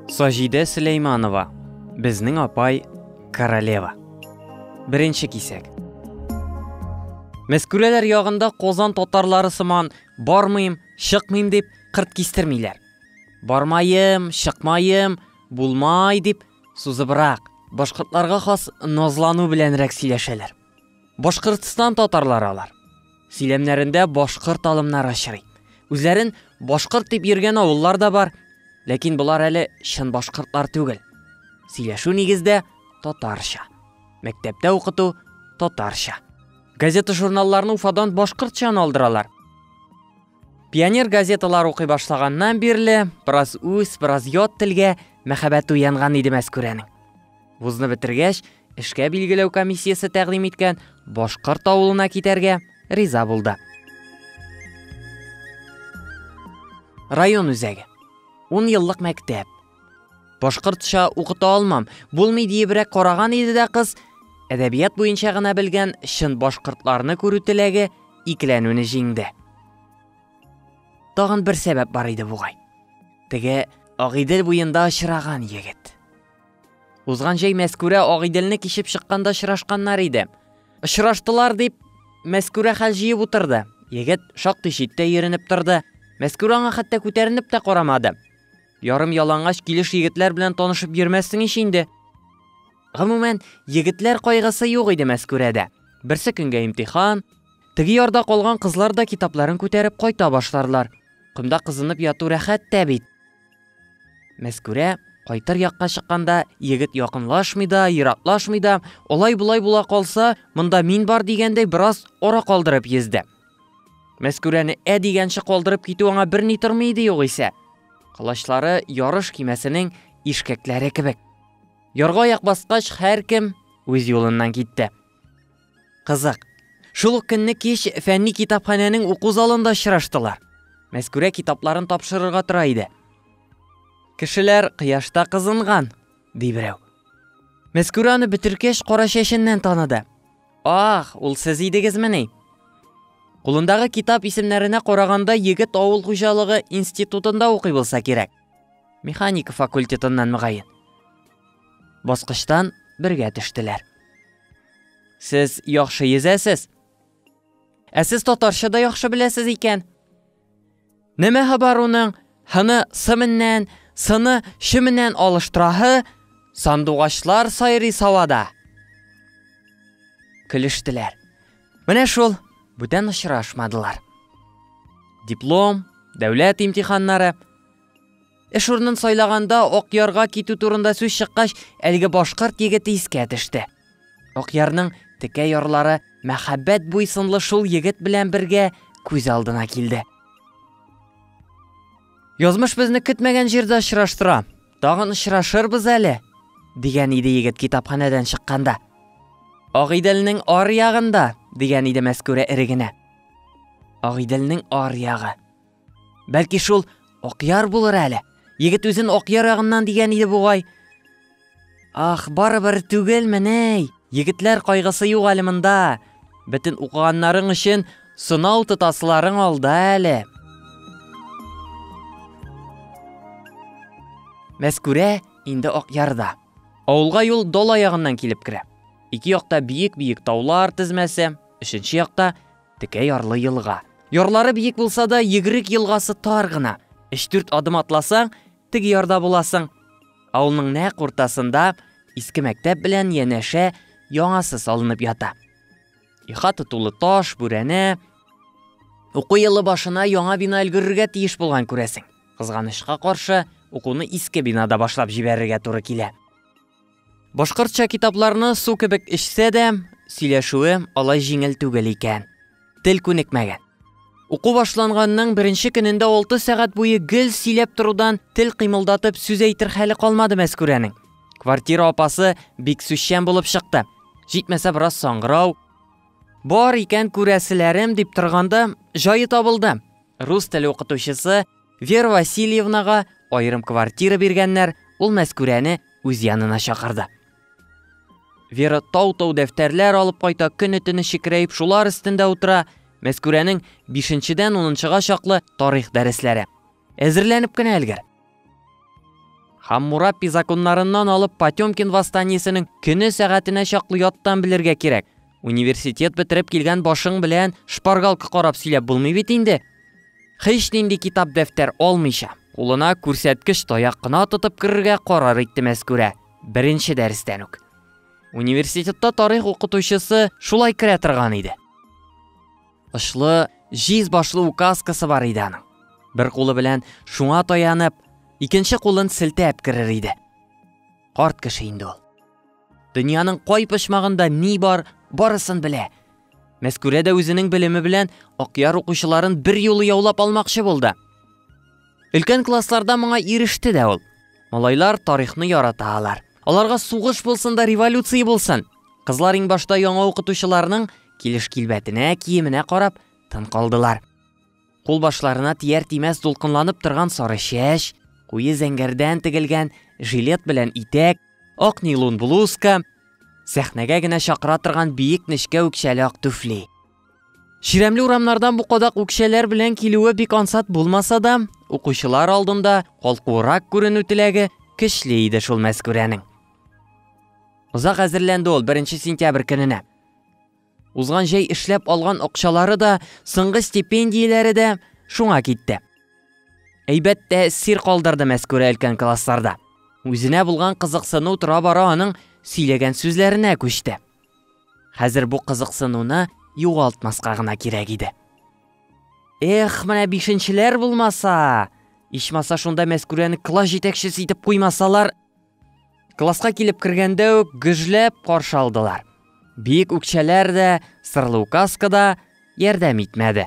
Саҗидә Сөләйманова, безнең апай королева. Беренче кисәк. Мәскүрәләр ягында Козан татарлары сыман бармыйм, чыкмыйм дип кырт кистермиләр. Бармаем, чыкмаем, булмай дип сузыбрак, башкортларга хас назлану беләнрәк сөйләшәләр. Башкортстан татарлары алар. Сөйләмнәрендә башкорт алымнары очрый. Үзләрен башкорт дип йөргән авыллар да бар, ләкин болар әле чын башкортлар түгел. Сөйләшү нигездә татарча. Мәктәптә укыту татарча. Газета-журналларны Уфадан башкортча алдыралар. Пионер газеталар укый башлаганнан бирле, бераз үз, бераз ят телгә мәхәббәт уянган иде Мәскүрәнең. Вузны бетергәч, эшкә билгеләү комиссиясе тәкъдим иткән Башкорт авылына китәргә риза булды. Район үзәге. 10 еллык мәктәп. Башкортча укыта алмам, булмый диебрәк караган иде дә кыз, әдәбият буенча гына белгән чын башкортларны күрү теләге икеләнүне җиңде. Тагын бер сәбәп бар иде бугай. Теге Агыйдел буенда очраган егет. Узган җәй Мәскүрә Агыйделне кичеп чыкканда очрашканнар иде. Очраштылар дип, Мәскүрә хәл җыеп утырды. Егет шактый читтә йөренеп торды. Мәскүрә аңа хәтта күтәренеп тә карамады. Ярым ялангач килеш егетләр белән танышып йөрмәссең ич инде. Гомумән, егетләр кайгысы юк иде Мәскүрәдә. Берсе көнгә имтихан, теге ярда калган кызлар да китапларын күтәреп кайта башларлар. Комда кызынып яту рәхәт тә бит. Мәскүрә кайтыр якка чыкканда, егет якынлашмый да, ераклашмый да, алай-болай була калса, монда мин бар дигәндәй бераз ара калдырып йөзде. Мәскүрәне ә дигәнче калдырып китү аңа берни тормый иде югыйсә. Кылачлары ярыш кимәсенең ишкәкләре кебек. Ярга аяк баскач, һәркем үз юлыннан китте. Кызык. Шул ук көнне кич фәнни китапханәнең уку залында очраштылар. Мәскүрә китапларын тапшырырга тора иде. Кешеләр кыяшта кызынган, ди берәү. Мәскүрә аны бетеркәч кара чәченнән таныды. Ах, ул сез идегезмени? Кулындагы китап исемнәренә караганда егет авыл хуҗалыгы институтында укый булса кирәк. Механика факультетыннан мөгаен. Баскычтан бергә төштеләр. Сез яхшы йөзәсез. Ә сез татарча да яхшы беләсез икән. Нәмә хабар уның хыны сы меннән, сыны шы меннән алыштыраһы, сандугачлар сайрый савада. Көлештеләр. Менә шул, бүтән очрашмадылар. Диплом, дәүләт имтиханнары, Эш урынын сайлаганда Акъярга китү турында сүз чыккач, әлеге башкорт егете искә төште. Акъярның текә ярлары мәхәббәт буйсынлы шул егет белән бергә күз алдына килде. Язмыш безне көтмәгән җирдә очраштыра. Тагын очрашырбыз әле, дигән иде егет китапханәдән чыкканда. Агыйделнең ар ягында, дигән иде Мәскүрә эрегенә. Агыйделнең ар ягы. Бәлки шул Акъяр булыр әле. Егет үзен Акъяр ягыннан дигән иде бугай. Ах, барыбер түгел меней. Егетләр кайгысы юк әле монда. Бөтен укыганнарың өчен сынау тотасларың алда әле. Мәскүрә инде Акъярда. Авылга юл Дола ягыннан килеп керә. Ике якта биек-биек таулар тезмәсе, өченче якта Текә ярлы елга. Ярлары биек булса да, Егрек елгасы тар гына. Өч-дүрт адым атласаң, теге ярда буласың. Авылның нәкъ уртасында иске мәктәп белән янәшә яңасы салынып ята. Ихата тулы таш, бүрәнә. Уку елы башына яңа бина өлгерергә тиеш булган күрәсең. Кызганычка каршы, укуны иске бинада башлап җибәрергә туры килә. Башкортча китапларны су кебек эчсә дә, сөйләшүе алай җиңел түгел икән. Тел күнекмәгән. Уку башланганның беренче көнендә 6 сәгать буе гел сөйләп торудан тел кыймылдатып сүз әйтер хәле калмады Мәскүрәнең. Квартира апасы бик сүзчән булып чыкты. Җитмәсә бераз саңгырау. Бар икән күрәселәрем дип торганда җае табылды. Рус теле укытучысы Вера Васильевнага аерым квартира биргәннәр, ул Мәскүрәне үз янына чакырды. Вера тау-тау дәфтәрләр алып кайта, көне төне шикерәеп шулар өстендә утыра. Мәскүрәнең 5-дән 10-га чаклы тарих дәресләре. Әзерләнеп кенә әлгәр. Хаммурапи законнарыннан алып Потемкин восстаниесенең көне сәгатенә чаклы яттан белергә кирәк. Университет бетереп килгән башың белән шпаргалка карап сөйләп булмый бит инде. Һич нинди китап-дәфтәр алмыйча, кулына күрсәткеч таяк кына тотып керергә карар итте Мәскүрә. Беренче дәрестән үк. Университетта тарих укытучысы шулай керә торган иде. Очлы, җиз башлы указкасы бар иде аның. Бер кулы белән шуңа таянып, икенче кулын селтәп керер иде. Карт кеше инде ул. Дөньяның кай почмагында ни бар, барысын белә. Мәскүрә дә үзенең белеме белән Акъяр укучыларын бер юлы яулап алмакчы булды. Өлкән классларда моңа иреште дә ул. Малайлар тарихны ярата алар. Аларга сугыш булсын да революция булсын. Кызлар иң башта яңа укытучыларның килеш-килбәтенә, киеменә карап, тын калдылар. Кулбашларына тияр-тимәс дулкынланып торган сары чәч, куе зәңгәрдән тегелгән жилет белән итәк, ак нилун блузка, сәхнәгә генә чакыра торган биек нечкә үкчәле ак түфли. Чирәмле урамнардан бу кадак үкчәләр белән килүе бик ансат булмаса да, укучылар алдында калкуырак күренү теләге көчле иде шул Мәскүрәнең. Озак әзерләнде ул беренче сентябрь көненә. Узган җәй эшләп алган акчалары да, соңгы стипендияләре дә шуңа китте. Әйбәт тә сир калдырды Мәскүрә өлкән классларда. Үзенә булган кызыксыну тора-бара аның сөйләгән сүзләренә күчте. Хәзер бу кызыксынуны югалтмаска гына кирәк иде. Эх, менә бишенчеләр булмаса! Ичмаса шунда Мәскүрәне класс җитәкчесе итеп куймасалар, Класска килеп кергәндә үк гөжләп каршы алдылар. Биек үкчәләр дә, сырлы указка да ярдәм итмәде.